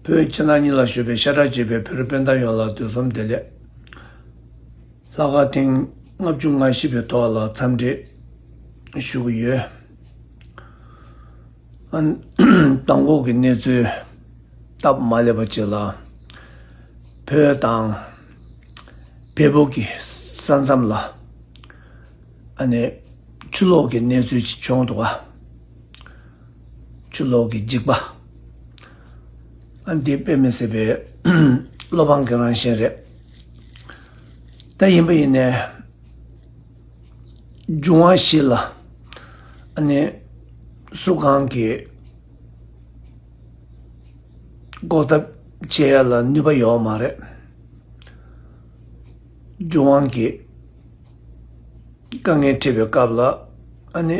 བོད་ཕྱི་ནང་གཉིས་ལ་བཞུགས་པའི་ཤ་ཁྲག་གཅིག་པའི་བོད་རིགས་སྤུན་ཟླ་ཡོངས་ལ་དུས་གསུམ་བདེ་ལེགས། ལྷག་དཀར་ཐེངས་ལྔ་བཅུ་ང་བཞི་པའི་ཐོག་ལ་འཚམས་འདྲི་ཞུ་གི་ཡོད། དང་པོ་གི་གནས་ཚུལ་སྟབས་མ་ལེགས་པ་གཅིག་ལ། བོད་དང་བལ་བོ་གི་ས་མཚམས་ལ། ཆུ་ལོག་གི་གནས་ཚུལ་ཅིག་བྱུང་འདུག་ག། ཆུ་ལོག་གི་འཇིགས་པ། འདི་དཔེ་མི་སྲིད་པའི་བློ་ཕམ་གྱི་རང་བཞིན་རེད། ད་ཡིན་པ་ཡིན་ནས་འབྱུང་བ་ཞིག་ལ་ནི་སུ་གང་གིས་འགོག་ཐབས་བྱེད་ཡ་ལ་ནུས་པ་ཡོད་མ་རེད། འབྱུང་དབང་གིས་དཀའ་ངལ་འཕྲད་པའི་སྐབས་ལ་ནི།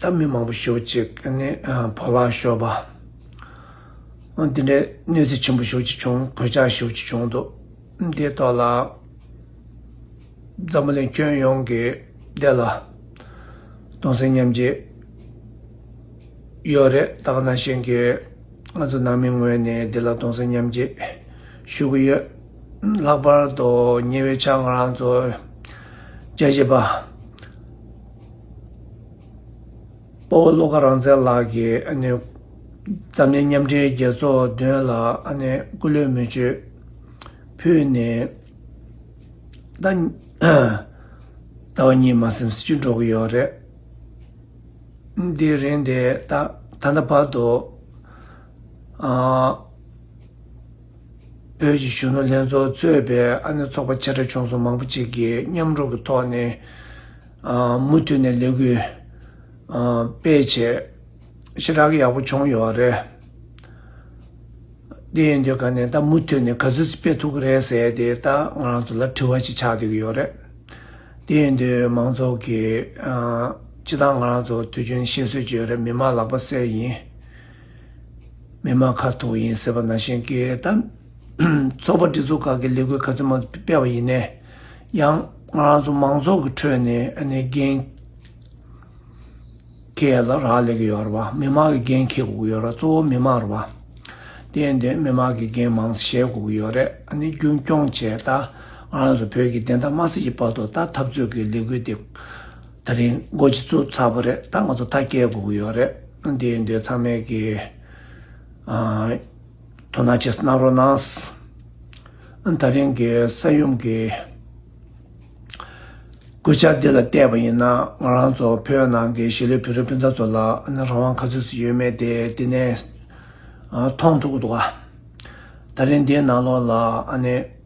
ད་མི་མང་པོ་ཞོག་ཅིག་ནས་བོར་བརླག་ཤོར་བ། འདི་འདྲའི་གནོད་འཚེ་ཆེན་པོ་ཞོག་ཅིག་བྱུང་གོད་ཆག་ཞོག་ཅིག་བྱུང་འདུག་འདིའི་ཐོག་ལ་འཛམ་བུ་གླིང་ཁྱོན་ཡོངས་ཀྱི་བདེ་ལ་སྟོང་སེམས་མཉམ་བསྐྱེད་ཡོད་རེད་ད་ག་ནང་བཞིན་གྱི་ང་ཚོ་ནང་མི་ངོས་ནས་བདེ་ལ་སྟོང་སེམས་མཉམ་བསྐྱེད་ཞུ་གི་ཡོད། ལྷག་པར་དུ་ཉེ་བའི་ཆར་ང་རང་ཚོ་དཔྱད་ཞིབ་པ། སྤོ་བོ་བློ་དགའ་རང་བཙན་ལགས་ཀྱིས་འཛམ་གླིང་མཉམ་འབྲེལ་རྒྱལ་ཚོགས་མདུན་ལ་སྐུ་ལུས་མི་བཅོལ་ཕུལ་ནས་ཟླ་བ་གཉིས་མ་སེམས་སེ་ཆུ་འགྲོ་གི་ཡོད་རེད། དེའི་རིང་དེ་ད་ལྟ་བར་དུ། བོད་ཀྱི་གཞོན་ནུ་ལྷན་ཚོགས་གཙོས་པའི་ཨ་ནེ་ཚོགས་པ་ཆེ་ཕྲ་ཆུང་ཚོགས་མང་པོ་གཅིག་གིས་མཉམ་རུབ་ཀྱི་ཐོག་ནས་མུ་མཐུད་ནས་ལས་འགུལ་སྤེལ་ཆེད་ཞེ་དྲག་ཡག་པོ་བྱུང་ཡོད་རེད། དེ་ཡིན་དུས་ག་ནས་ད་མུ་མཐུད་ནས་ག་ཚོད་སྤེལ་ཐུབ་ཀྱི་རེད་ཟེར་ཏེ་ད་ང་རང་ཚོ་ལ་དྲི་བ་ཞིག་ཆགས་སྡོད་ཀྱི་ཡོད་རེད། དེ་ཡིན་དུས་མང་ཚོགས་ཀྱིས་ཅི་ཐང་ང་རང་ཚོ་དུས་རྒྱུན་བཤད་སྲོལ་གྱི་ཡོད་རེད་མི་མ་ལག་པ་གསེར་ཡིན། མི་དམངས་ཁ་ཐུག་ཡིན་ཟེར་བ་ནང་བཞིན་གྱིས་ད། ཚོགས་པ་སྒྲིག་འཛུགས་ཁག་གིས་ལས་འགུལ་ག་ཚོད་མང་པོ་སྤེལ་བ་ཡིན་ནས་ཡང། ང་རང་ཚོ་མང་ཚོགས་ཀྱི་ཁྲོད་ནས་འགན་འཁྱེར་ལ་རག་ལས་ཀྱི་ཡོད་རེད་བ། མི་དམངས་ཀྱི་འགན་འཁྱེར་དགོས་ཀྱི་ཡོད་རེད་གཙོ་བོ་མི་དམངས་རེད་བ། དེ་ཡིན་དུས་མི་དམངས་ཀྱི་འགན་མང་བཤད་དགོས་ཀྱི་ཡོད་རེད་རྒྱུན་སྐྱོང་བྱས་ད། ང་རང་ཚོ་བོད་ཀྱི་བདེན་མཐའ་དམར་སྲིད་ཀྱི་བར་དུ་ད་འཐབ་རྩོད་ཀྱི་ལས་འགུལ་དེ། ད་རིང་སྒོ་ཕྱི་ཚུགས་ཚར་བ་རེད་ད་ང་ཚོ་ཐག་སྐྱེལ་དགོས་ཀྱི་ཡོད་རེད་དེ་འདི་ཚང་མས་ཀྱི་དོ་སྣང་བྱེད་གནང་རོགས་གནང་ད་རིང་གི་ས་ཡོམ་གྱི་སྐུལ་ལྕག་འདི་ལ་བལྟས་པ་ཡིན་ན་ང་རང་ཚོ་བོད་ནང་གི་གཞིས་ལུས་བོད་རིགས་སྤུན་ཟླ་ཚོ་ལ་རང་དབང་ག་ཚོད་ཟིག་ཡོད་མེད་དེ་དེ་ནས་མཐོང་ཐུབ་ཀྱི་འདུག་ད་རིང་འདིའི་ནང་ལོགས་ལ་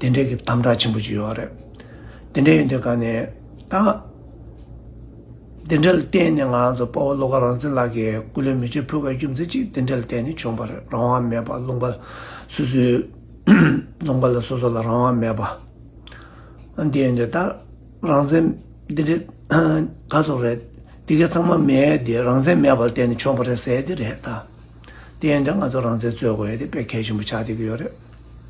དེ་འདྲའི་གི་དམ་དྲག་ཆེན་པོ་ཅིག་ཡོད་རེད། དེ་འདྲའི་ཡོད་དེ་ག་ནས་ད། དེ་འདྲའི་བརྟེན་ནས་ང་ཚོ་དཔའ་བོ་བློ་དགའ་རང་བཙན་ལགས་ཀྱི་སྐུ་ལས་མི་བྱེད་ཕོད་པའི་རྒྱུ་མཚན་གཅིག་དེ་འདྲའི་བརྟེན་ནས་བྱུང་པ་རེད་རང་དབང་མེད་པ་ལུང་པ་སོ་སོའི། ལུང་པ་ལ་སོ་སོ་ལ་རང་དབང་མེད་པ། འདི་ཡོད་དེ་ད། རང་བཙན་འདི་འདྲའི་ག་ཚོད་རེད། འདི་གའི་ཚང་མ་མེད་དེ་རང་བཙན་མེད་པ་ལ་བརྟེན་ནས་བྱུང་པ་རེད་ཟེར་དེ་རེད་ད། དེ་ཡོད་དེ་ང་ཚོ་རང་བཙན་རྩོད་དགོས་ཡོད་དེ་དཔེ་གལ་ཆེན་པོ་ཆགས་བསྡད་ཀྱི་ཡོད་རེད།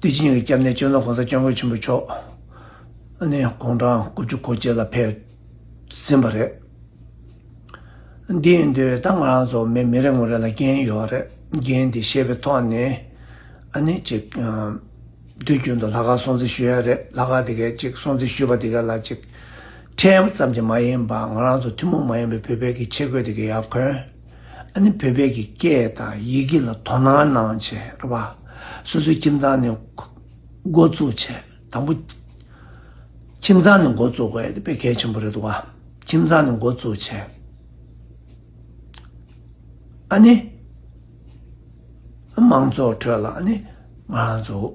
ཏུའུ་ཅིན་ཡོན་གྱི་སྐྱབས་གནས་བཅོལ་ནོར་གོང་ས་སྐྱབས་མགོན་ཆེན་པོ་མཆོག་ནས་དགུང་གྲངས་དགུ་བཅུ་གོ་བརྒྱད་ལ་ཕེབས་ཟིན་པ་རེད། དེའི་འདུལ་སྟངས་ང་རང་ཚོ་མི་རེ་ངོ་རེ་ལ་འགན་ཡོད་པ་རེད། འགན་དེ་ཤེས་པའི་ཐོག་ནས་ནི་ཅིག་དུས་རྒྱུན་དུ་ལྷ་ཁང་སྲུང་བརྩི་ཞུ་ཡ་རེད། ལྷ་ཁང་དེ་གའི་ཅིག་སྲུང་བརྩི་ཞུ་བ་དེ་ག་ལ་ཅིག་ཁྲེལ་ཡམ་ཙམ་གྱི་མ་ཡིན་པར་ང་རང་ཚོ་ཐུན་མོང་མ་ཡིན་པའི་བོད་པའི་གི་ཆེད་བསྐོས་དེ་གའི་ཡ་གོན་ཨ་ནི་བོད་པའི་གི་སྐད་དང་ཡི་གེ་ལ་དོ་སྣང་གནང་བྱས་པ། སོ་སོའི་ཁྱིམ་ཚང་ནས་འགོ་བཙུགས་བྱས་དང་པོ། ཁྱིམ་ཚང་ནས་འགོ་བཙུགས་དགོས་པའི་གལ་ཆེན་པོ་རེད་འདུག་ཁྱིམ་ཚང་ནས་འགོ་བཙུགས་བྱས། ཨ་ནི། མང་ཚོགས་ཁྲོད་ལ་ཨ་ནི། མང་ཚོགས།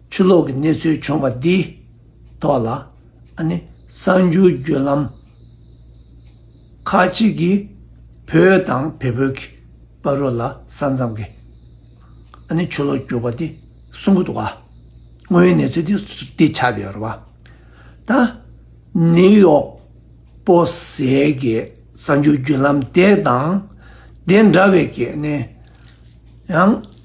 ཆུ་ལོག་གི་གནས་ཚུལ་བྱུང་བ་འདིའི་ཐོག་ལ་ཨ་ནེ་གསར་འགྱུར་བརྒྱུད་ལམ་ཁག་ཅིག་གིས་བོད་དང་བལ་བོད་ཀྱི་དཔའ་རོ་ལ་ས་མཚམས་ཀྱི་ཨ་ནེ་ཆུ་ལོག་བསྐྱུར་བ་དེ་གསུང་གི་འདུག་བ་དངོས་ཡོད་གནས་ཚུལ་དེ་འདི་ཆགས་ཀྱི་ཡོད་བ་དང་ནེའུ་ཡོག་པོ་ཟས་ཀྱི་གསར་འགྱུར་བརྒྱུད་ལམ་དེ་དང་དེ་འདྲ་བའི་ཀྱི་ཨ་ནེ་ཡང།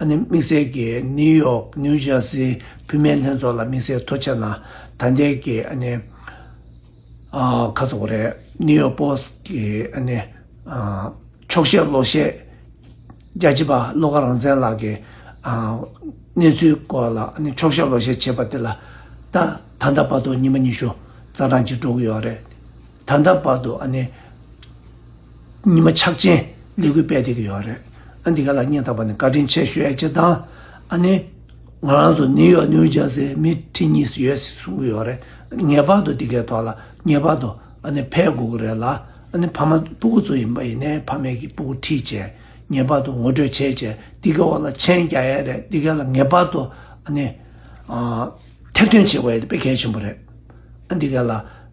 ཨ་ནེ་དམིགས་བསལ་གྱིས་ནིའུ་ཡོག New Jersey བུད་མེད་ལྷན་ཚོགས་ལ་དམིགས་བསལ་ཐོ་ཆད་ན་ད་ལྟའི་གི་ཨ་ནེ་ཁ་ཚོགས་རེད New York Post གི་ཨ་ནེ་ཆོག་ཤེས་བློ་ཤེས་རྒྱ་ཆེ་པ་བློ་དགའ་རང་བཙན་ལགས་ཀྱི་གནས་ཚུལ་སྐོར་ལ་ཨ་ནེ་ཆོག་ཤེས་བློ་ཤེས་བྱེད་པ་དེ་ལ་ད་ད་ལྟ་བར་དུ་ཉིན་མ་ཉི་ཤུ་རྩ་གྲངས་ཅིག་འགྲོ་གི་ཡོད་རེད། ད་ལྟ་བར་དུ་ཨ་ནི་ཉི་མ་ཕྱག་ཆེན་ལས་འགུལ་སྤེལ་ཏེ་ཀྱི་ཡོད་རེད། ཨ་འདི་ག་ལ་སྙན་ཐག་པ་ནས་བཀའ་དྲིན་ཆེ་ཞུ་ཡ་ཅི་དང་ཨ་ནི། ང་རང་ཚོ་ནིའུ་ཡོག་ནིའུ་ཇར་སི་མི་ཁྲི་གཉིས་སུ་ཡོད་སྲིད་གསུང་གི་ཡོད་རེད། ངེས་པར་དུ་འདི་གའི་ཐོག་ལ་ངེས་པར་དུ་ཨ་ནི་ཕེབས་དགོས་ཀྱི་རེད་ལ་ཨ་ནི་ཕ་མ་སྤུ་གུ་ཚོ་ཡིན་པ་ཡིན་ནའི་ཕ་མེས་ཀྱི་སྤུ་གུ་ཁྲིད་ཆས་ངེས་པར་དུ་ངོ་སྤྲོད་བྱེད་ཆས་འདི་གའི་འོག་ལ་མཆན་རྒྱག་ཡ་རེད་འདི་ག་ལ་ངེས་པར་དུ་ཨ་ནི། ཐེར་འདོན་བྱེད་དགོས་ཡ་དེ་དཔེ་གལ་ཆེན་པོ་རེད་ཨ་འདི་ག་ལ།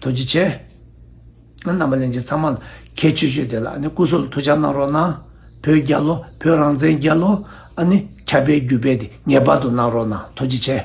དོན་ཅི་བྱེད། རྣམ་པ་གླེང་བྱེད་ཚང་མ་ལ་ཁྱད་ཆོས་ཤོས་དེ་ལ་ནི་སྐུ་སྲོག་ལ་ཐུགས་ཕྱག་གནང་རོགས་གནང། བོད་རྒྱལ་ལོ་བོད་རང་བཙན་རྒྱལ་ལོ། ཨ་ནི་ཁྱབ་སྤེལ་རྒྱུད་སྤེལ་དེ་ངེས་པར་དུ་གནང་རོགས་གནང་དོན་ཅི་བྱེད།